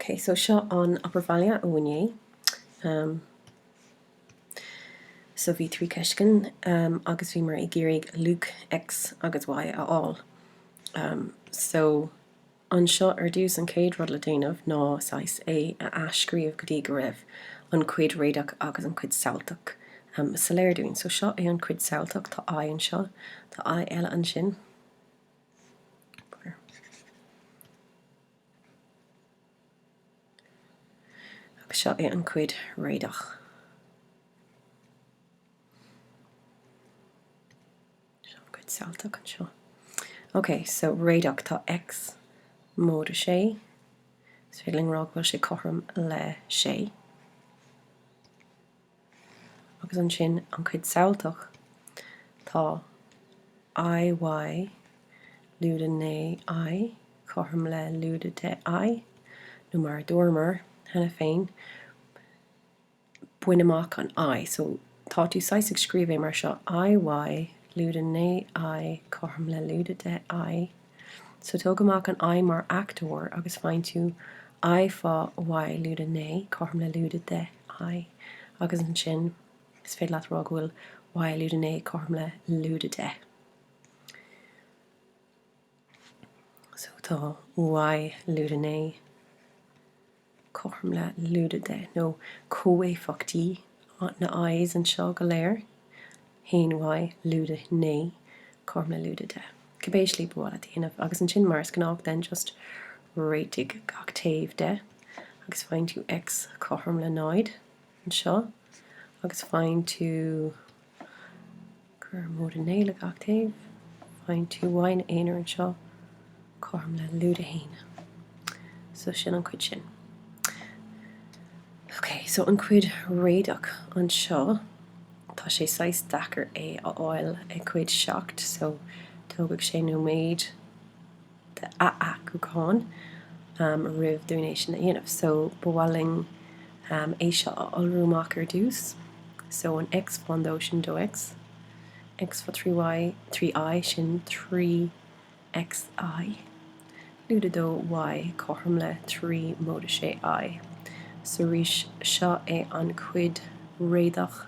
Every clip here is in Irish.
Ok so seo an obair bhaile ó inné ehm so bhí trí cheist ann ehm agus bhíomar ag iarraidh luach X agus Y a fháil ehm so anseo ar dtús an chéad rud le déanamh ná saghas é a athscríobh go dtí go raibh an cuid réadach agus an cuid samhailteach ehm soiléir dúinn. So seo é an cuid samhailteach tá I anseo tá I eile ansin. Agus seo é an chuid réadach. Seo an chuid samhailteach anseo. Ok, so réadach, tá X móide 6, is féidir linn rá go bhfuil sé cothrom le 6. Agus ansin an chuid samhailteach, tá IY, lúide 9I, cothrom le lúide 10I, nó mar a dúramar cheana féin, bain amach an I. So, tá tú saghas ag scríobh é mar seo, IY, lúide 9I, cothrom le lúide 10I. So tóg amach an I mar fhachtóir agus faigheann tú I fá Y lúide 9, cothrom le lúide 10 I, agus ansin is féidir leat rá go bhfuil Y lúide 9 cothrom le lúide 10. So tá Y lúide 9. cothrom le lúide 10, nó comhéifeachtaí na Is anseo go léir, haon Y, lúide 9, cothrom le lúide 10. Cibé slí ba mhaith leat a dhéanamh, agus ansin mar is gnách then just réitigh gach taobh de, agus faigheann tú X cothrom le 0 anseo, agus faigheann tú. Cuir móide a naoi le gach taobh. Faigheann tú Y ina aonar anseo. Cothrom le lúide a haon. So sin an cuid sin. Ok, so an cuid réadach anseo, tá sé saghas deacair é a fháil i gcuid seacht, so tógfaidh sé nóiméad. a fhacúcháin roimh dúinn é sin a dhéanamh. So, ba mhaith linn é seo a iolrú amach ar dtús. So, an X fán dó sin dó-X, X fá trí Y, trí I sin trí XI, lúide dó Y cothrom le trí móide sé I. So, arís, seo é an chuid réadach.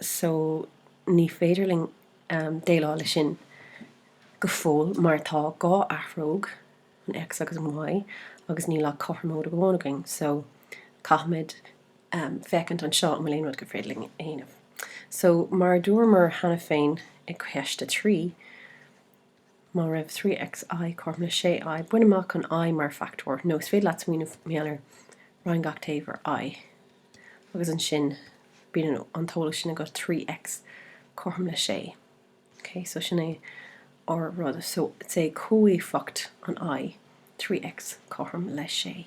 so ní féidir linn déileáil leis sin go fóill mar tá dhá athróg, an X agus an Y, agus níl ach cothromóid amháin againn so caithfimid féachaint anseo an bhfuil aon rud gur féidir linn a dhéanamh. So mar a dúramar cheana féin i gCeist 3, Má raibh 3XI cothrom le 6I, bain amach an I mar fachtóir, nó is féidir leat smaoineamh meandar, roinn gach taobh ar I, agus ansin bíonn an t-eolas sin agat, 3X cothrom le 6. Ok, so sin é ár rud. So, is é comhéifeacht an I, 3X cothrom le 6.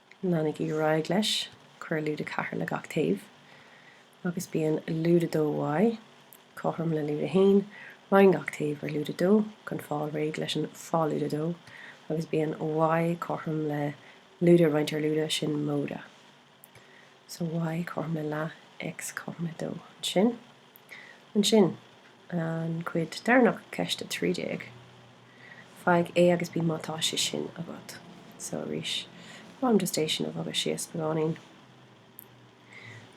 Leanaigí ar aghaidh leis, cuir lúide 4 le gach taobh agus bíonn lúide 2Y cothrom le lúide 1, roinn gach taobh ar lúide 2 chun fáil réidh leis an fá lúide 2 agus bíonn Y cothrom le lúide roinnte ar lúide, sin móide so Y cothrom le leath X cothrom le 2. Ansin. Ansin, an chuid deireanach, ceist 13, faigh A agus B má tá sé sin agat. So, arís, ba mhaith liom just é sin a bhogadh síos beagáinín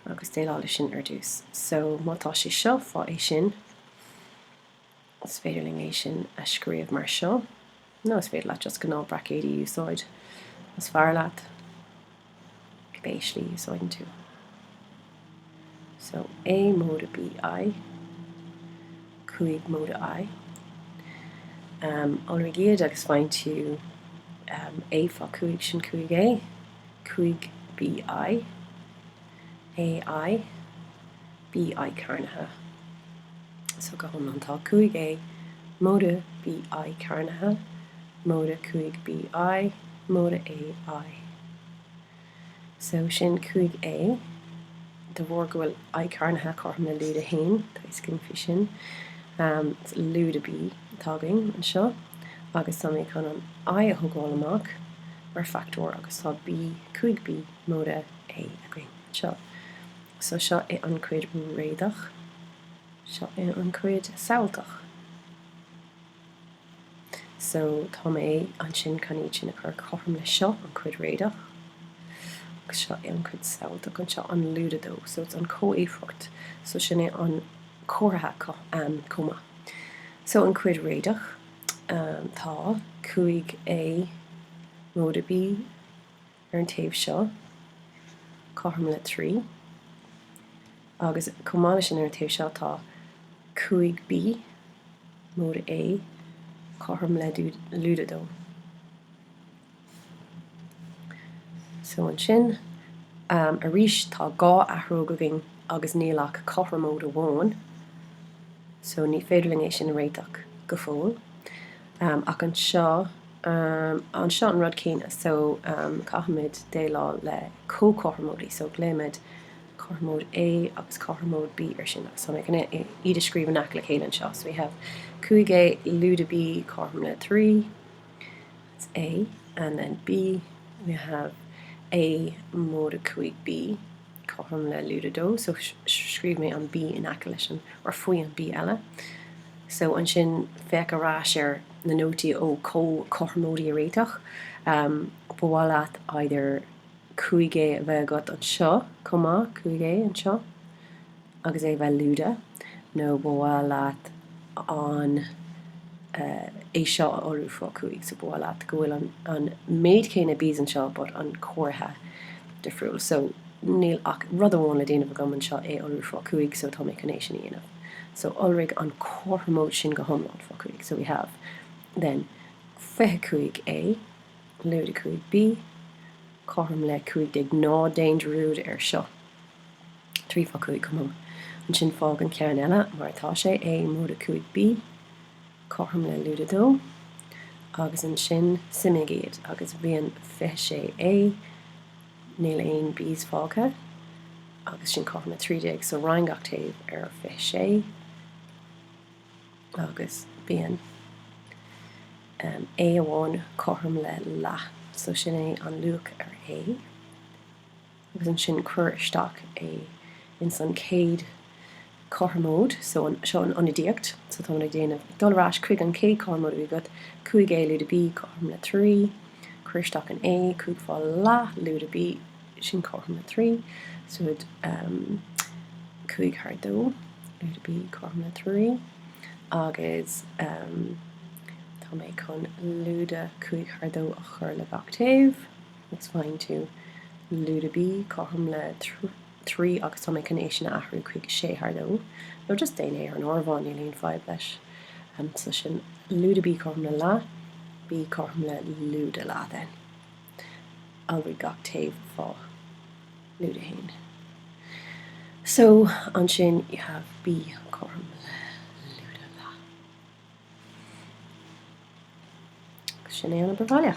agus déileáil leis sin ar dtús. So, má tá sé seo, fá é sin. Is féidir linn é sin a scríobh mar seo, nó is féidir leat just gnáth braicéidí a úsáid, más fearr leat, pé slí a úsáideann tú. So, A móide B I, 5 móide I. Iolraigh iad agus faigheann tú A fá 5 sin 5 A, 5 B I. AI, BI cearnaithe So go hiomlán tá 5A móide BI cearnaithe móide 5 BI móide AI So sin 5A de bharr go bhfuil I cearnaithe cothrom le lúide 1 tá a fhios againn faoi sin lúide B atá againn anseo agus tá mé chun an I a thógáil amach mar fhachtóir agus tá B 5B móide A againn. Seo. So seo í an chuid réadach. Seo í an chuid samhailteach. So tá mé ansin chun iad sin a chur cothrom le seo an chuid réadach agus seo í an chuid samhailteach anseo an lúide dó. So it's an chomhéifeacht. So sin é an comhartha chomh maith. So an chuid réadach tá 5A móide B. ar an taobh seo, cothrom le trí. Agus chomh maith leis sin, ar an taobh seo, tá 5B, móide A, cothrom le lúide dó. So ansin arís, tá dhá athróg againn agus níl ach cothromóid amháin, so ní féidir linn é sin a réiteach go fóill. Ach anseo. Um an seo an rud céanna so um caithfimid déileáil le comhchothromóidí so glaoimid cothromóid A agus cothromóid B ar sin agus tá mé chun iad a scríobh in aice le chéile anseo so we have 5A lúide B cothrom le 3 that's A and then B we have A móide 5B cothrom le lúide dó so scríobh mé an B in aice leis an, or faoi an B eile. So ansin féach ar ais ar na nótaí ó comhchothromóidí a réiteach. Ba mhaith leat either 5A a bheith agat anseo chomh maith, 5A anseo. agus é bheith lúide, nó ba mhaith leat an é seo a iolrú fá cúig, so ba mhaith leat go bhfuil an an méid céanna Bs anseo but an comhartha difriúil, so níl ach rud amháin le déanamh agam anseo, é a iolrú fá cúig, so tá mé chun é sin a dhéanamh. So iolraigh an cothromóid sin go hiomlán fá cúig, so we have then fiche cúig A, lúide cúig B, cothrom le cúig déag, ná déan dearúd air seo. 3 fá 5 chomh maith. Ansin fág an ceann eile mar atá sé, A móide 5B, cothrom le lúide 2, agus ansin suimigh iad agus bíonn 26A. Níl aon Bs fágtha agus sin cothrom le 13, so roinn gach taobh ar 26 agus bíonn A amháin cothrom le leath, so sin é an luach ar A. agus ansin cuir isteach é ins an chéad cothromóid so, seo an ionadaíocht, so táimid ag déanamh, ag dul ar ais chuig an chéad cothromóid a bhí agat, 5A lúide B cothrom le 3, cuir isteach an A, 5 fá leath lúide B sin cothrom le 3, so ehm 5 thar 2 lúide B cothrom le 3, agus ehm tá mé chun lúide 5 thar 2 a chur le gach taobh. It's fine to. Lúide B, Cothrom le trí agus tá mé chun é sin a athrú chuig a sé thar dó. Nó just déan é ar an áireamhán, níl aon fadhb leis. So sin Lúide B, Cothrom le leath, B, Cothrom le lúide leath then. Iolraigh gach taobh fá lúide haon. So ansin you have B, Cothrom le lúide leath. Sin é an obair bhaile.